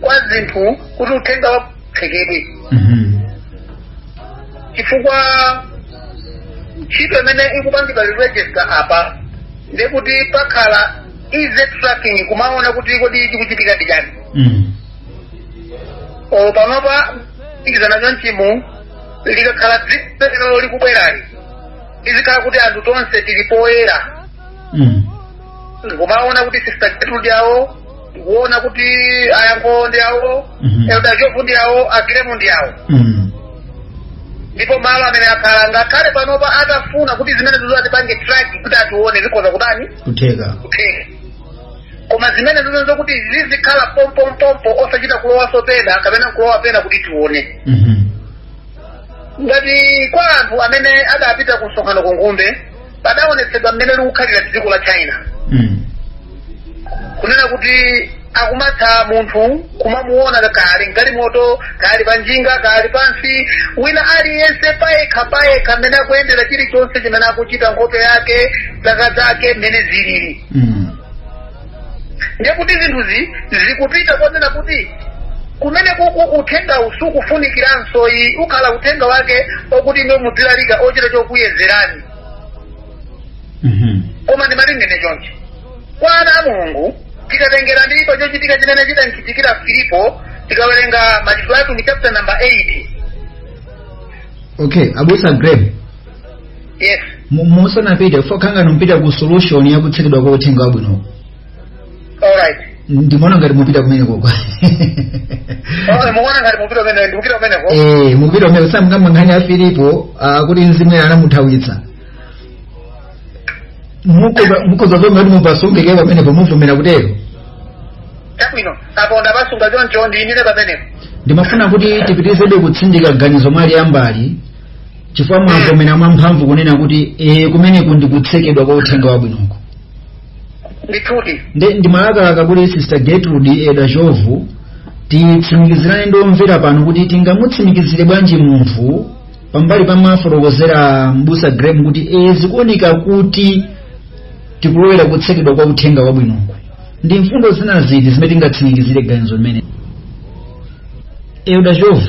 kwa zinthu kuti uthenga waphekedwe Mhm. chifukwa ntchito imene ikupangidwa ya register apa ndekuti pakhala easy tracking kumaona kuti kodi chikuchitika ndi chani Mhm. panopa ikizana chonchimu likakhala dziko lino likubwerali izikhala kuti anthu tonse tili poyera Mhm. kumaona kuti sister gertrude ndi awo tikuona kuti a Yankho ndi awo Mhm. elder jovu ndi awo a graham ndi awo Mm. ndipo malo amene akhala ngakhale panopa atafuna kuti zimenezizo atipange track kuti atione zikhoza kutani Kutheka. kutheka koma zimenezizo ndi zokuti zizikhala pompompompo osachita kulowaso pena kapena kulowa pena kuti tione Mhm. ngati kwa anthu amene adapita ku msonkhano ku ngumbe padaonetsedwa mmene likukhalira dziko la china Mm. kunena kuti akumatha munthu kumamuona kaya ali mgalimoto kaya ali pa njinga kaya ali pansi wina aliyense payekha payekha mmene akuyendera chilichonse chimene akuchita nkhope yake zaka zake mmene zilili Mm. ndiye kuti zinthuzi zikupita konena kuti kumeneku uthenga sukufunikiranso ayi ukhala uthenga wake okuti imwe mudzilalika ochita kukuyezerani Mhm. koma ndimalingalira chonchi kwa ana a mulungu tikatengera ndi pa chochitika chimene chidamchitikira filipo tikawerenga machitidwe atumwi chapter number 8 okay abusa graham yes Mu- musanapite pokhala ngati mupita ku solution ya kutsekedwa kwa uthenga wabwino alright ndimaona ngati mupita kumeneko kwa okay mukuona ngati mupita kumene ndikupita kumeneko eh mupita kumene muzakamba nkhani ya filipo ah, kuti mzimu eya anamuthawitsa Mukoza- mukoza zomveka kuti mupasunge pamenepo muvomera kutero chabwino apo ndapasunga choncho ndiimire pamenepo ndimafuna kuti tipitizebe kutsindika ganizo mwaliyambali chifukwa mwavomera mwamphamvu kunena kuti ee kumeneku ndi kutsekedwa kwa uthenga wabwinoko ndithudi ndiye ndimalakalaka kuti sister gertrude elder jovu titsimikizirane ndi omvera pano kuti tingamutsimikizire bwanji munthu pambali pa mafotokozedwe a mbusa graham kuti ee zikuoneka kuti tikulowera kutsekedwa kwa uthenga wabwinoko ndi mfundo zina ziti zimene tingatsimikizire ganizo limeneli elder jovu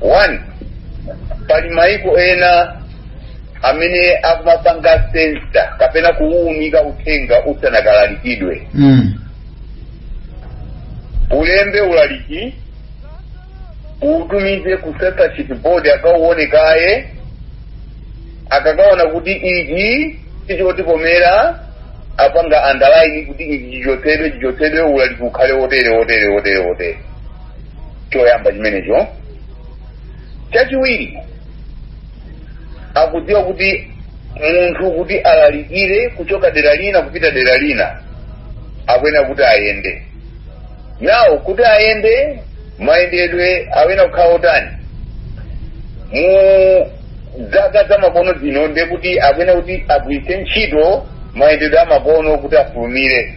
one pali maiko ena amene akumapanga sensa kapena kuwuunika uthenga usanakalalikidwe mm. ulembe ulaliki uutumize ku censorship board akauone kaye akakaona kuti ichi sichotikomera apanga andalaini kuti ichi chichotsedwe chichotsedwe ulaliki ukhale wotere wotere wotere wotere choyamba chimenecho chachiwiri akudziwa kuti munthu kuti alalikire kuchoka dera lina kupita dera lina akuyenera kuti ayende nawo kuti ayende mayendedwe akuyenera kukhala otani mu zaka zamakono zino ndiye kuti akuyenera kuti agwiritse ntchito mayendedwe amakono kuti afulumire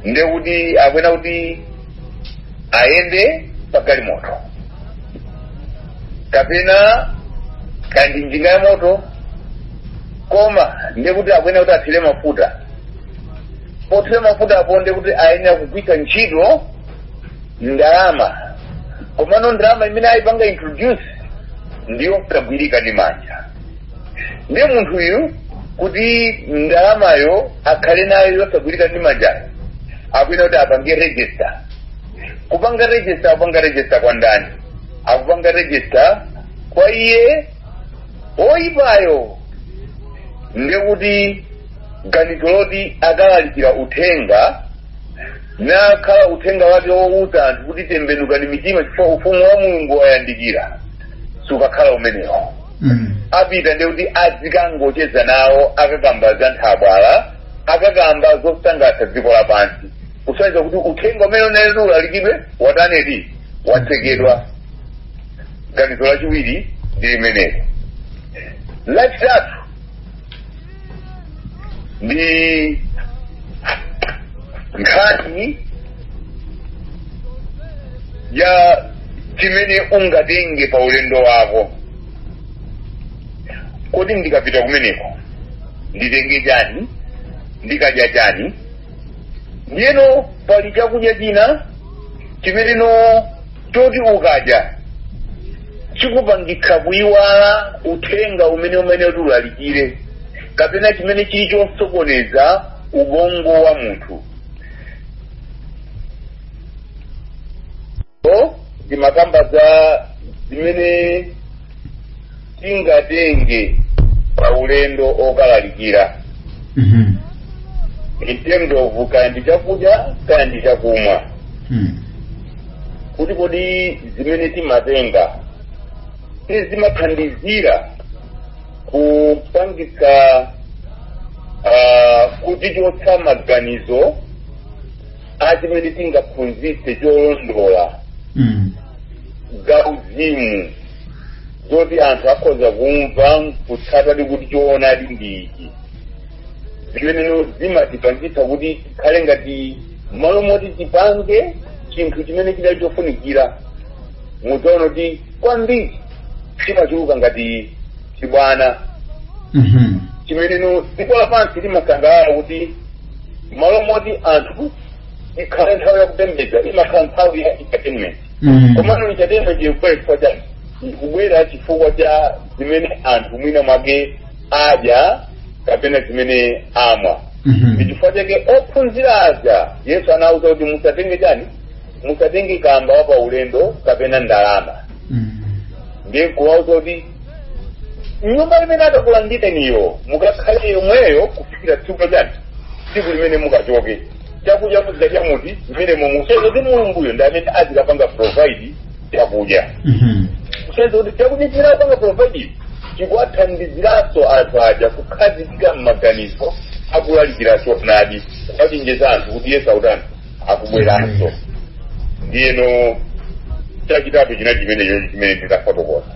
ndiye kuti akuyenera kuti ayende pa galimoto kapena kanjinga ya moto koma ndiye kuti akuyenera kuti athire mafuta pothira mafuta apo ndiye kuti ayenera kugwiritsa ntchito ndalama komano ndalama imene ayipanga introduce ndiyo yosagwirika ndi manja ndiye munthuyu kuti ndalamayo akhale nayo yosagwirika ndi manjayo akuyenera kuti apange register kupanga register akupanga register kwa ndani akupanga register kwa iye oyipayo ndekuti ganizo loti akalalikira uthenga nakhala uthenga wake wouza anthu kuti tembenukani mitima chifukwa ufumu wa mulungu wayandikira sukakhala umenewo Mm. apita ndi kuti azikangocheza nawo akakamba za nthabwala akakamba zosangalatsa dziko lapansi kusonyeza kuti uthenga umene unali oti ulalikidwe watanedi watsekedwa ganizo lachiwiri ndi limenelo lachitatu ndi nkhani ya chimene ungatenge pa ulendo wako kodi ndikapita kumeneko nditenge chani ndikadya chani ndiyeno pali chakudya china chimenecho choti ukadya chikupangitsa kuyiwala uthenga umene umati ulalikire kapena chimene chili chosokoneza ubongo wa munthu o ndimakamba za zimene tingatenge pa ulendo okalalikira Mhm. in terms of kaya ndi chakudya kaya ndi chakumwa Hmm. kuti kodi zimene timatenga zimathandizira kupangitsa uh, kutichotsa maganizo achimene tingaphunzitse cholondola Mm. za uzimu zoti anthu akhoza kumva kutsatadi kuti choonadi ndi ichi zimenezo zimatipangitsa kuti tikhale ngati mmalo moti tipange chinthu chimene chidali chofunikira mudzaona kuti kwambiri chimachuluka ngati chibwana Mhm. chimene dziko lapansi limasangalala kuti mmalo moti anthu ikhale nthawi yakupembedza imakhala nthawi ya entertainment Mm. komano entertainment ikubwera chifukwa chani ikubwera chifukwa cha zimene anthu mwina mwake adya kapena zimene amwa Mhm. ndi chifukwa chake ophunzira aja yesu anawuza kuti musatenge chani musatenge kamba wa paulendo kapena ndalama Mhm. ndiye kuwauza kuti nyumba imene akakulandireniyo mukakhale yomweyo kufikira tsiku chani tsiku limene mukachoke chakudya muzidya chamuti zimene zimasonyeza kuti mulunguyo ndi amene azikapanga provide chakudya Mhm. kusonyeza kuti chakudya chimene akupanga provide chikuwathandiziranso anthu aja kukhazikika m'maganizo akulalikira choonadi kuwachenjeza anthu kuti yesu akutani akubweranso ndiyeno chachitatu china chimenecho chimene ndinafotokoza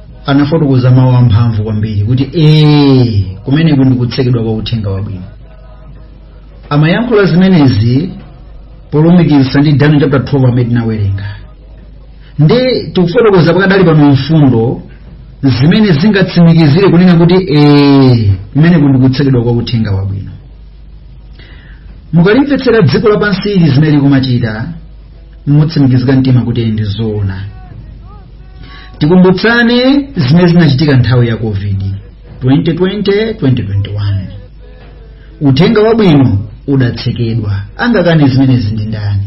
anafotokoza mawu amphamvu kwambiri kuti ee kumeneku ndi kutsekedwa kwa uthenga wabwino amayankhula zimenezi polumikizisa ndi daniel chapter 12 amene tinawerenga ndiye tikufotokoza pakadali pano mfundo zimene zingatsimikizire kunena kuti ee kumeneku ndi kutsekedwa kwa uthenga wabwino mukalimvetsera dziko lapansi ili zimene likumachita mutsimikizika mtima kuti ndi zoona tikumbutsane zimene zinachitika nthawi ya covid 2020-2021 uthenga wabwino udatsekedwa angakane zimenezi ndi ndani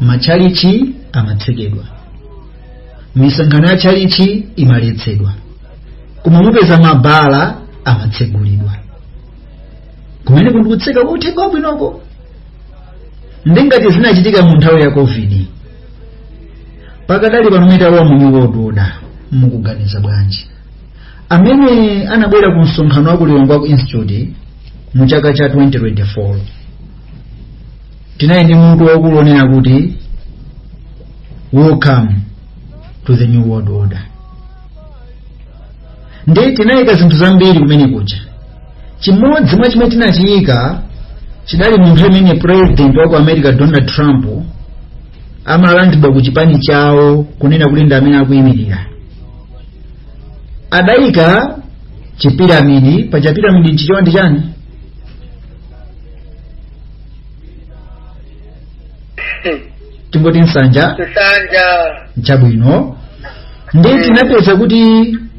matchalitchi amatsekedwa misonkhano ya tchalitchi imaletsedwa koma mupeza mabala amatsegulidwa kumeneku ndi kutseka kwa uthenga wabwinoko ndi ngati zinachitika mu nthawi ya covid pakadali pano mmene talowa mu new world order mukuganiza bwanji amene anabwera ku msonkhano wa ku lilongwe ku institute mu chaka cha 2024 tinali ndi mutu waukulu onena kuti welcome to the new world order ndiye tinaika zinthu zambiri kumene kuja chimodzi mwa zimene tinachiyika chidali mu nthawi imene president wa ku america donald trump amalandiridwa ku chipani chawo kunena kuti ndi amene akuyimirira adayika chipiramidi pa chipiramidi nchichewa ndi chani tingoti nsanja chabwino ndiye tinapeza kuti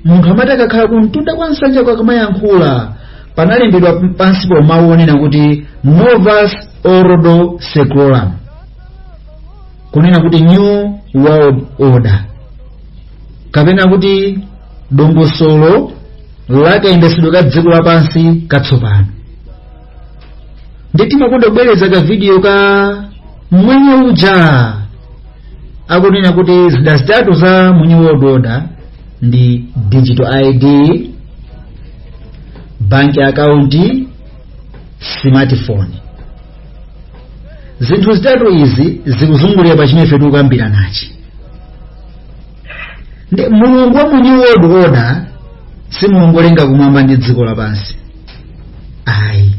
munthu amati akakhala kumtunda kwa nsanjako akamayankhula panalembedwa pansipo mawu onena kuti novus ordo seclorum kunena kuti new world order kapena kuti dongosolo la kayendetsedwe ka dziko lapansi katsopano nde timakonda kubwereza ka video ka mmwenye uja akunena kuti zida zitatu za mu new world order ndi digital id bank account smartphone zinthu zitatu izi zikuzungulira pa chimene ife tikukambiranachi ndi mulungu wa mu new world order si mulungu olenga kumwamba ndi dziko lapansi ayi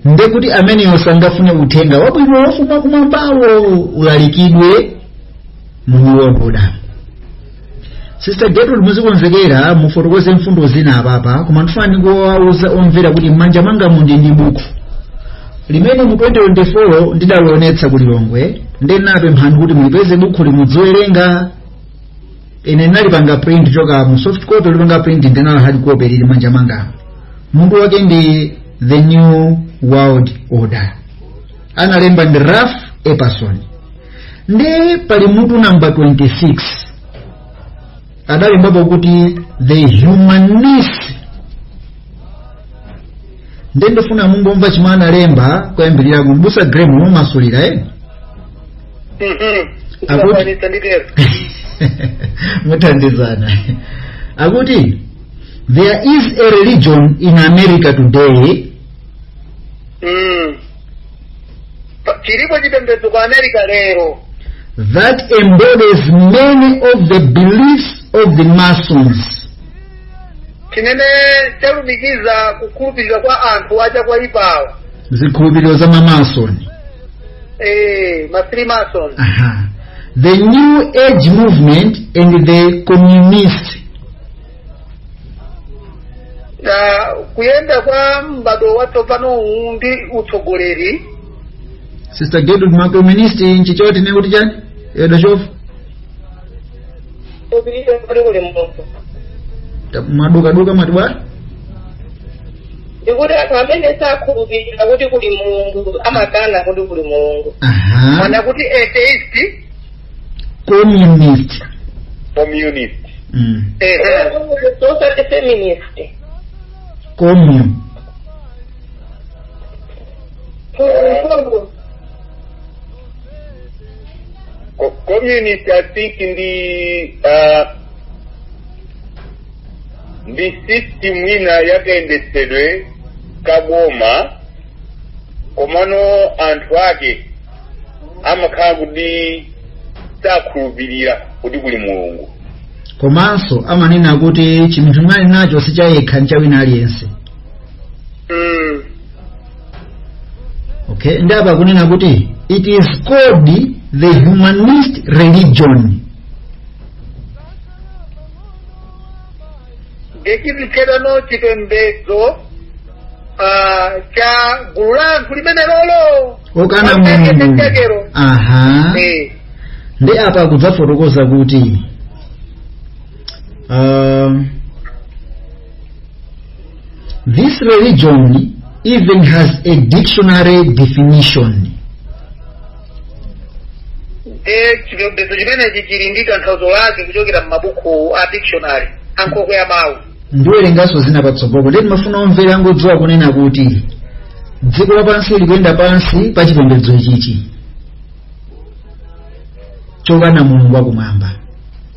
nde kuti ameneyo sangafune uthenga wabwino wochoka kumwambawo ulalikidwe mu new world order sister gertrude muzikonzekera mufotokoze mfundo zina apapa koma ndifuna ndikuwuzeni omvera kuti m'manja mwangamu ndili ndi buku limene mu 2024 ndidalionetsa ku lilongwe ndiye ndinapempha kuti mulipeze bukhuli mudziwerenga ine ndinalipanga print choka mu soft copy lipanga print ndinali ndi hard copy lili m'manja mwangamu mutu wake ndi the new world order analemba ndi ralph epperson nde pali mutu namba 26 adalembapo kuti the humanist nde ndifuna mungomva chimene analemba koyambirira abusa graham mumasulira eh? Akut- nditero muthandizana akuti there is a religion in america today Mm. chilipo chipembedzo ku america lero that embodies many of the beliefs of the Masons. chimene chalumikiza kukhulupirira kwa anthu aja oipawa zikhulupiriro za mamasoni eh, ma freemason Aha. the new age movement and the communist na kuyenda kwa m'bado watsopano uwu ndi utsogoleri sister gertrude makoministi nchi choti ne kuti chani edo chofu popirira kuti kuli munthu Ta- mwadukaduka mwati bwa ndikuti anthu amene sakhulupirira kuti kuli mulungu amakana kuti kuli mulungu aha kunena kuti atheist communist communist mm. ehe socialist communist commun Co- communist i think ndi uh, ndi system ina yakayendetsedwe kaboma komano anthu ake amakhala kuti sakhulupirira kuti kuli mulungu komanso amanena kuti chinthu chimene ali nacho si chayekha ncha wina aliyense mm. okay ndi apa kunena kuti it is called the humanist religion nde chikhulupiriro chipembedzo ah, cha gulu la anthu limene liri lokana amen mulungu chakero. aha Eh, ndi apa kudzafotokoza kuti um, this religion even has a dictionary definition ndiye chipembedzo chimenechi chili ndi tanthauzo lake kuchokera m'mabuku a dictionary ankhokwe ya mawu ndiwerenganso zina patsogolo ndiye timafuna omvera angodziwa kunena kuti dziko lapansi likuyenda pansi pa chipembedzo ichichi chokana mulungu wakumwamba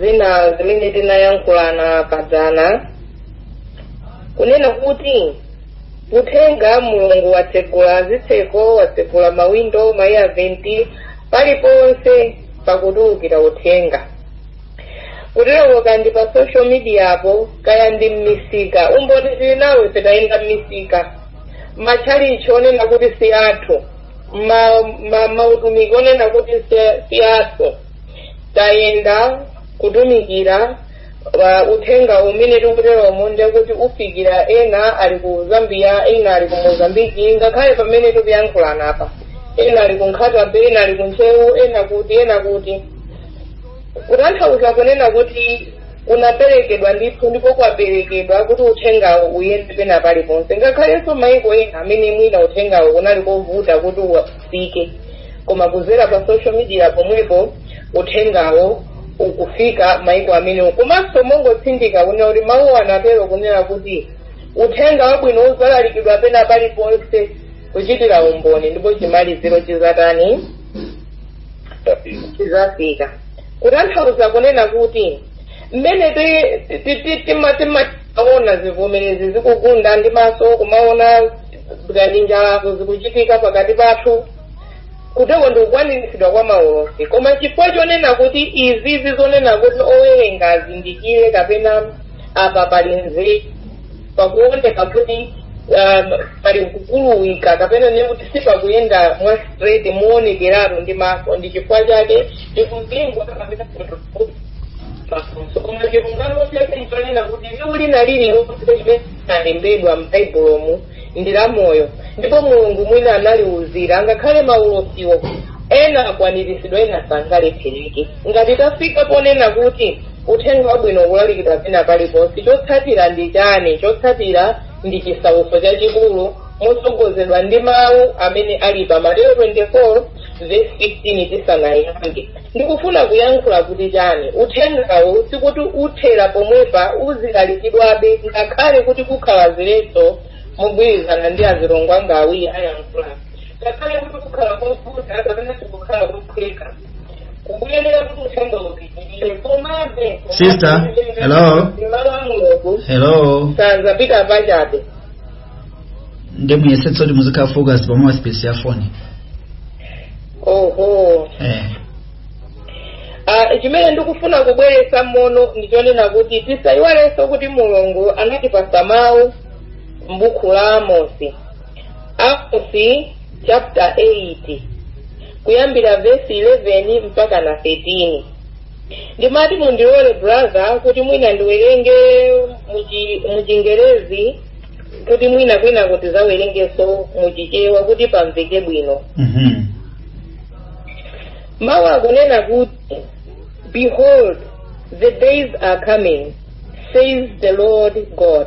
zina zimene tinayankhulana padzana kunena kuti uthenga mulungu watsegula zitseko watsegula mawindo ma air vent paliponse pakutulukira uthenga kuterokokaya ndi pa social media apo kaya ndi mmisika umboni tili nawo ife tayenda mmisika matchalichi onena kuti si athu mautumiki onena kuti si athu tayenda kutumikira uthenga umene tikuteromo ndekuti ufikira ena ali ku zambia ena ali ku mozambiki ngakhale pamene tikuyankhulana apa ena ali ku nkhata bay ena ali ku ntcheu ena kuti ena kuti kutanthauza kunena kuti kunaperekedwa ndithu ndipo kwaperekedwa kuti uthengawo uyende pena paliponse ngakhalenso maiko ena amene mwina uthengawo unali kovuta kuti ufike koma kuzera pa social media pomwepo uthengawo ukufika maiko amenewo komanso mongotsindika kunena kuti mawu anatero kunena kuti uthenga wabwino uzalalikidwa pena paliponse kuchitira umboni ndipo chimaliziro chizatani chizafika kutanthauza kunena kuti mmene ti- ti- ti- tima- timaona zivomerezi zikugunda ndi maso kumaona ngati njalazo zikuchitika pakati pathu kuteko ndi kukwaniritsidwa kwa maulosi koma chifukwa chonena kuti izizi zonena kuti owerenga azindikire kapena apa pali nzeru pakuoneka kuti um, pali kukuluwika kapena ne kuti sipakuyenda mwa straight muonekeratu ndi maso ndi chifukwa chake tikuzingwa kapena kutofuti mafunso koma chilungamo chake nchonena kuti liwu lina lililonse limene linalembedwa m'baibulomu ndi la moyo ndipo mulungu mwini analiuzira angakhale maulosiwo ena akwaniritsidwa ena sangalephereke ngati tafika ponena kuti Uthenga Wabwino ukulalikidwa pena paliponse. Chotsatira ndi chani? Chotsatira ndi chisautso chachikulu motsogozedwa ndi mawu amene ali pa Mateyu 24 verse 15 tisanayambe. Ndikufuna kuyankhula kuti chani? Uthengawo sikuti uthera pomwepa uzilalikidwabe ngakhale kuti kukhala ziletso mogwirizana ndi azilongo anga awiri ayankhula. Ngakhale kuti kukhala kovuta kapena sikukhala kophweka. kukuyenera kuti uthenga upitirire komabe Sister, hello? mawu a mulungu hello sazapita pachabe ndi muyesetse kuti muzikhala focus pa mouthpiece ya foni oho eh. Ah, chimene ndikufuna kubweretsa mono ndichonena kuti tisayiwalenso kuti mulungu anatipasa mawu m'buku la amosi Amosi chapter 8 kuyambira vesi 11 mpaka na 13 ndimati mundilole brother kuti mwina ndiwerenge muchi- muchingerezi kuti mwina wina atizawerengeso muchichewa kuti pamveke bwino Mhm. mawu akunena kuti behold the days are coming says the lord god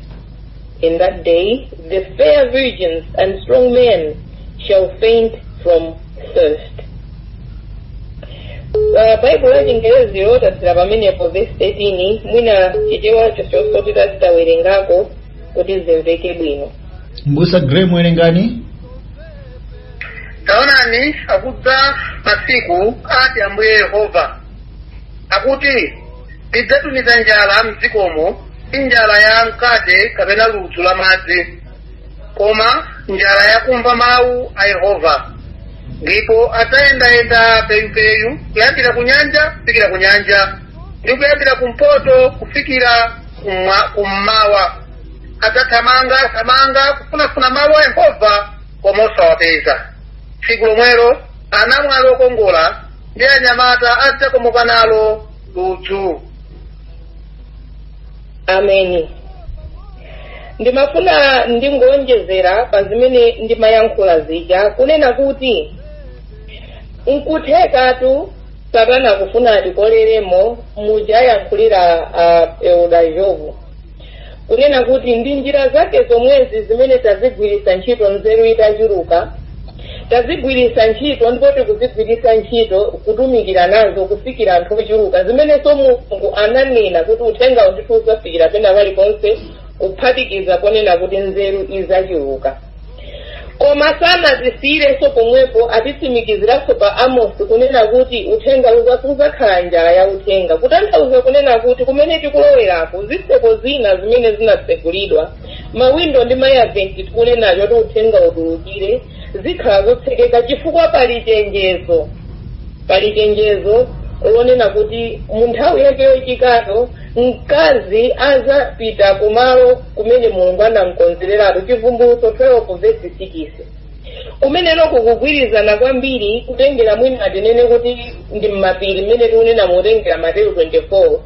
In that day the fair virgins and strong men shall faint from thirst. Uh, baibulo la chingerezi latsira pamenepo vesi 13 mwina chichewa chonso titazawerengako kuti zimveke bwino mbusa graham werengani taonani akudza masiku ati ambuye yehova akuti ndidzatumiza njala mdzikomo si njala ya mkate kapena ludzu la madzi koma njala yakumva mawu a yehova ndipo adzayendayenda peyupeyu kuyambira ku nyanja kufikira ku nyanja ndi kuyambira kumpoto kufikira kumwa- kummawa adzathamanga thamanga kufunafuna mawu a yehova koma osawapeza tsiku lomwelo anamwali okongola ndi anyamata adzakomoka nalo ludzu ameni ndimafuna ndingowonjezera pa zimene ndimayankhula zija kunena kuti nkuthekatu satana akufuna atikolelemo muja ayankhulira uh, Elder Jovu kunena kuti ndi njira zake zomwezi zimene tazigwiritsa ntchito nzeru itachuluka tazigwiritsa ntchito ndipo tikuzigwiritsa ntchito kutumikira nazo kufikira anthu ochuluka zimenenso mulungu ananena kuti uthenga ndithu uzafikira pena paliponse kuphatikiza ponena kuti nzeru izachuluka koma sanatisiyirenso pomwepo atitsimikiziranso pa amosi kunena kuti uthenga uza- uzakhala njala ya uthenga kutanthauza kunena kuti kumene tikuloweraku zitseko zina zimene zinatsegulidwa mawindo ndi mayaventi tikunenacho kuti uthenga utulukire zikhala zotsekeka chifukwa pali chenjezo pali chenjezo lonena kuti mu nthawi yake yochitikayo mkazi adzapita kumalo kumene mulungu anamkonzereratu chivumbulutso 12 vesi 6 kumeneko kukugwirizana kwambiri kutengera mwina atinene kuti ndi mmapiri mmene tikunena motengera mateyu 24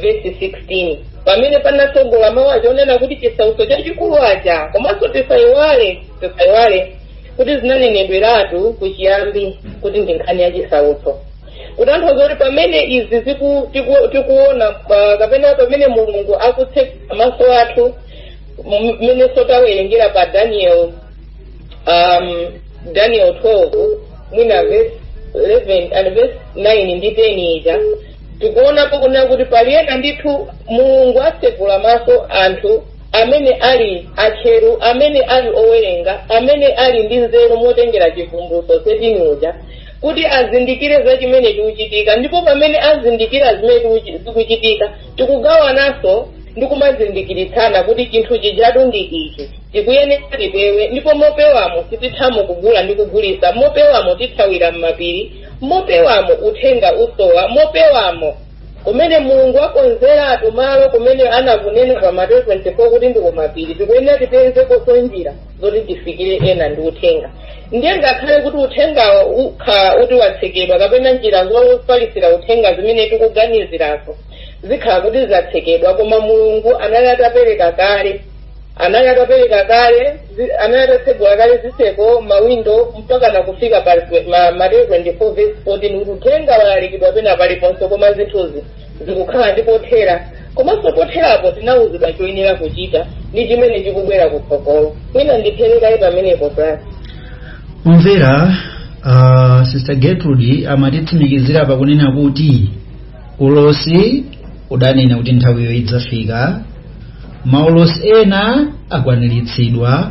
vesi 16 pamene panatsogola mawu aja onena kuti chisautso chachikulu aja komanso tisayiwale tisayiwale kuti zinanenedweratu kuchiyambi kuti ndi nkhani ya chisautso kutanthauza kuti pamene izi ziku- tiku- tikuona pa- kapena pamene mulungu akutsegula maso athu m- mmene sotawerengera pa daniel um, daniel 12 mwina verse 11 and verse 9 ndi 10 ija tikuonapo kunena kuti pali ena ndithu mulungu atsegula maso anthu amene ali atcheru amene ali owerenga amene ali ndi nzeru motengera chivumbulutso 13 uja kuti azindikire za chimene chikuchitika ndipo pamene azindikira zimene tikuchi- zikuchitika tikugawananso ndi kumazindikiritsana kuti chinthu chijatu ndi ichi tikuyenera tipewe ndipo mopewamo sitithamo kugula ndi kugulisa mopewamo tithawira m'mapiri mopewamo uthenga usowa mopewamo kumene mulungu wakonzeratu malo kumene anakunena pa mateyu 24 kuti ndi kumapiri tikuyenera tipezekonso njira zoti tifikire ena ndi uthenga ndiye ngakhale kuti uthenga ukhala kuti watsekedwa kapena njira zofalitsira uthenga zimene tikuganizirazo zikhala kuti zatsekedwa koma mulungu anali atapereka kale anali atapereka kale zi- anali atatsegula kale zitseko mawindo mpaka nakufika pa ma- mateyu 24 verse 14 kuti uthenga walalikidwa pena paliponse koma zinthuzi zikukhala ndi pothera komanso potherapo tinawuzidwa choyenera kuchita ndi chimene chikubwera kutsogolo mwina ndiperekayi pamenepo brother kumvera uh, sister gertrude amatitsimikizira pakunena kuti ulosi udanena kuti nthawiyo idzafika maulosi ena akwaniritsidwa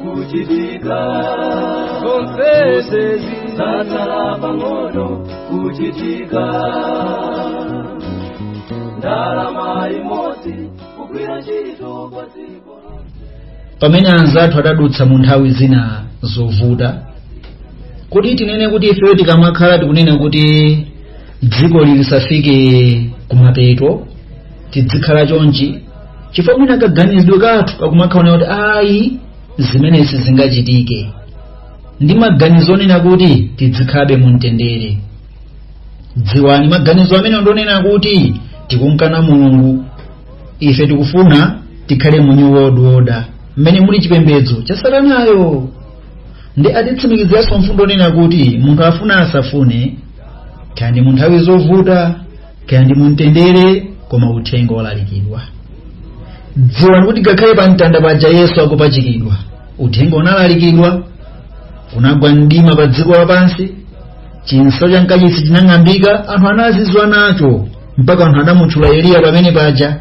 kuchitika zonsezi zangotsala pang'ono kuchitika ndalama imodzi kugwira ntchito kwa dziko pamene anzathu adadutsa mu nthawi zina zovuta kodi tinene kuti ifeyo tikamakhala tikunena kuti dziko lisafike kumapeto tidzikhala chonchi chifukwa mwina kaganizidwe kathu kakumakhala kuti ayi zimenezi sizingachitike ndi maganizo onena kuti tidzikhalabe mu mtendere dziwani maganizo amene ndonena kuti tikumkana mulungu ife tikufuna tikhale mu new world order mmene muli chipembedzo cha satanayo ndi atitsimikiziranso mfundo yonena kuti munthu afuna asafune kaya ndi mu nthawi zovuta kaya ndi mumtendere koma uthenga walalikidwa dziwani kuti ngakhale pa mtanda paja yesu akupachikidwa uthenga unalalikidwa kunagwa mdima pa dziko lapansi chinsalu cha mkachisi chinang'ambika anthu anazizwa nacho mpaka anthu anamutchula eliya pamene paja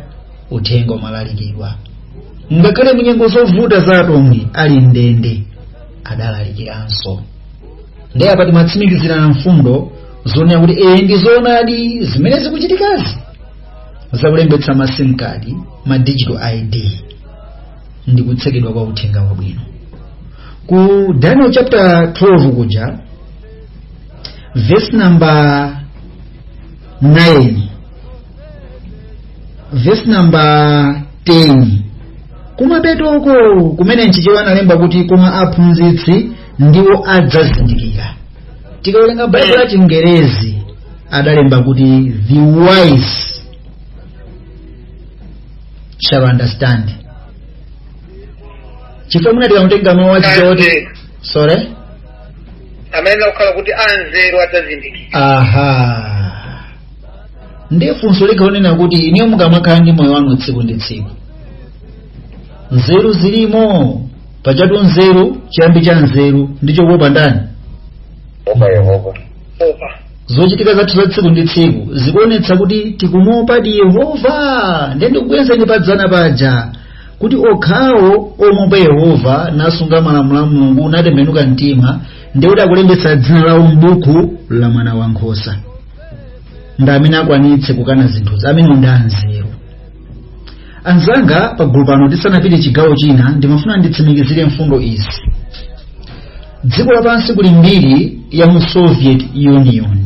uthenga umalalikidwa ngakhale munyengo zovuta za atumwi ali mndende adalalikiranso ndiye apa timatsimikizirana mfundo zonena kuti ee ndi zoonadi zimene zikuchitikazi zakulembetsa ma sim card ma digital id ndi kutsekedwa kwa uthenga wabwino ku daniel chapter 12 kuja verse number 9 verse number 10 kumapetoko kumene mchichewa analemba kuti koma aphunzitsi ndiwo adzazindikira tikawerenga baibulo la chingerezi adalemba kuti the wise shall understand chifukwa mwina tikangotenga mawu achichewa kuti Anzeru. sorry amene akukhala kuti anzeru adzazindikira aha ndiye funso likunena kuti inuyo mukamakhala ndi moyo wanu tsiku ndi tsiku nzeru zilimo pajatu nzeru chiyambi cha nzeru ndicho kuopa ndani opa yehova zochitika zathu za tsiku ndi tsiku zikuonetsa kuti tikumuopadi yehova ndiye ndikubwezeni padzana paja kuti okhawo omuopa yehova nasunga malamulo a mulungu natembenuka mtima ndiye kuti akulembetsa dzina lawo m'buku la mwana wa nkhosa ndi amene akwanitse kukana zinthuzi amene ndi anzeru anzanga pagulu pano tisanapite chigawo china ndimafuna nditsimikizire mfundo izi dziko lapansi kuli mbiri ya mu soviet union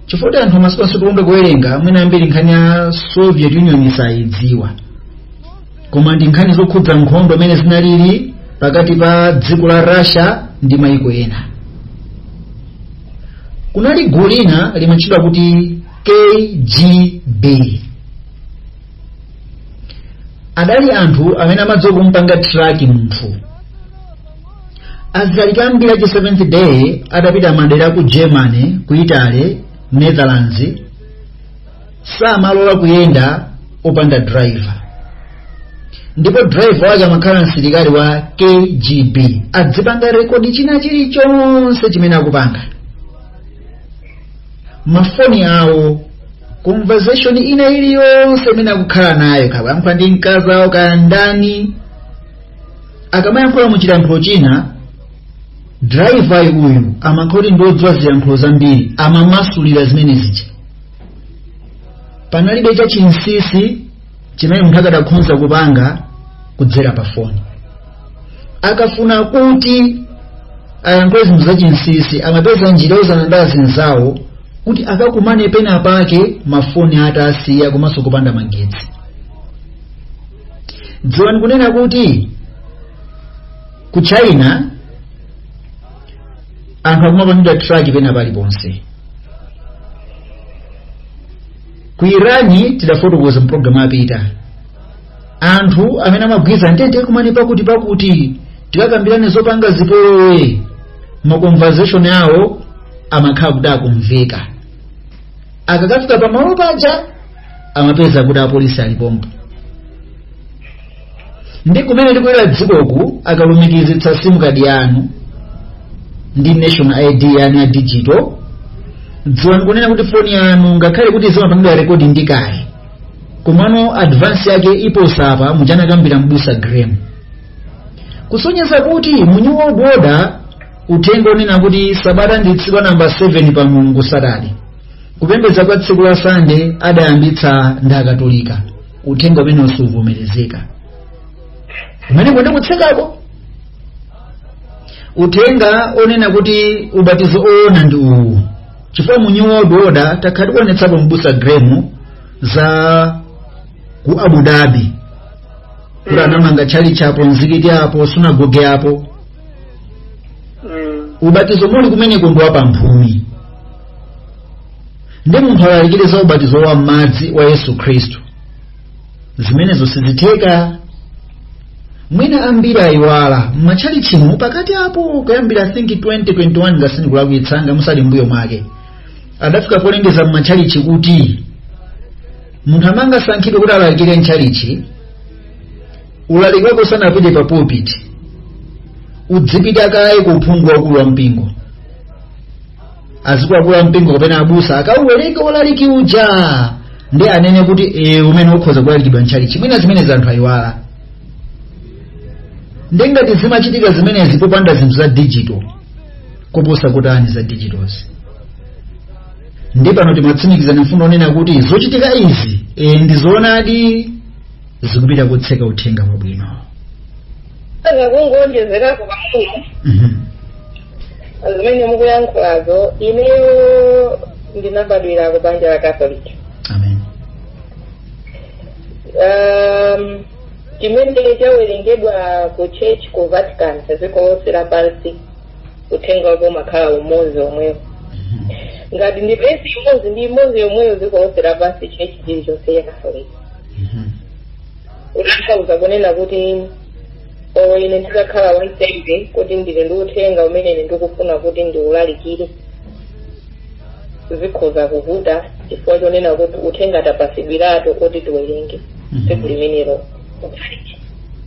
chifukwa kuti anthu masiku ano sitikonda kuwerenga mwina ambiri nkhani ya soviet union sayidziwa koma ndi nkhani zokhudza nkhondo mmene zinalili pakati pa dziko la russia ndi maiko ena kunali gulu lina limatchedwa kuti kgb adali anthu amene amadziwa kumpanga track munthu alaliki ambiri achi seventh day adapita madera ku germany ku italy netherlands samalola kuyenda opanda driver ndipo driver wake amakhala msilikali wa kgb adzipanga rekodi china chilichonse chimene akupanga mafoni awo conversation ina iliyonse imene akukhala nayo kaya akuyankhula ndi mkazi awo kaya ndani akamayankhula mu chilankhulo china driver uyu amakhala kuti ndiodziwa zilankhulo zambiri amamasulira zimene zija panalibe cha chinsisi chimene munthu akadakhonza kupanga kudzera pa foni akafuna kuti ayankhule zinthu za chinsisi amapeza njira youzana ndi azinzawo kuti akakumane pena pake mafoni atasiya komanso kupanda magetsi dziwani kunena kuti ku china anthu akumapangidwa track pena paliponse ku iran tidafotokoza mpulogalamu apita anthu amene amagwirizana tikakumane pakuti pakuti tikakambirane zopanga zipolowe makonversation awo amakhala kuti akumveka akakafika pamalo paja amapeza kuti apolisi alipompo ndi kumene tikulowera dzikoku akalumikizitsa simu kadi yanu ndi national id yanu ya digital dziwani kunena kuti foni yanu ngakhale kuti zimapangidwa rekodi ndi kale komano advance yake iposa pa muja anakambira mbusa graham kusonyeza kuti mu new world order uthenga onena kuti sabata ndi tsiku namba 7 pa mulungu satade kupembedza kwa tsiku la sande adayambitsa ndi Akatolika uthenga umene usuvomerezeka umene kuti kutsekako uthenga onena kuti ubatizo oona ndi uwu chifukwa mu new world order takhala tikuonetsapo mbusa gremu za ku abu dhabi kuti anamanga tchalitchi apo mzikiti apo sunagoge apo Mm. ubatizo muli kumeneko ndi wapamphumi ndi munthu alalikire za ubatizo wa madzi wa yesu khristu zimenezo sizitheka mwina ambiri ayiwala m'matchalichimu pakati apo kuyambira i think 2021 ngati sindikulakwitsa ngati muli mbuyo mwake adafika polengeza m'matchalichi kuti munthu amene amangosankhidwa kuti alalikire m'tchalichi ulaliki wako usanapite pa pulpit udzipita kaye ku uphungu wakulu wa mpingo azikuluakulu a mpingo kapena abusa akauwerenge ulaliki uja ndi anene kuti e, umene ukhoza kulalikidwa m'tchalichi mwina zimenezi anthu ayiwala nde ngati zimachitika zimenezi popanda zinthu za digital koposa kutani za digitals nde pano timatsimikizadi mfundo onena kuti zochitika izi e, ndi zoonadi zikupita kotseka uthenga wabwino zakungoonjezerako pang'ono Mhm. zimene mukuyankhulazo ineyo ndinabadwira ku banja la catholic amen um, chimene chawerengedwa ku church ku vatican dziko lonse lapansi uthenga wake umakhala umodzi omwewo Mhm. ngati ndi vesi imodzi ndi imodzi yomweyo dziko lonse lapansi church chilichonse ya catholic kutanthauza kunena kuti olo ine ndikakhala wansembe kuti ndili ndi uthenga umene ine ndikufuna kuti ndiulalikire zikhoza kuvuta chifukwa chonena kuti uthenga tapasidwiratu kuti tiwerenge tsiku limenelo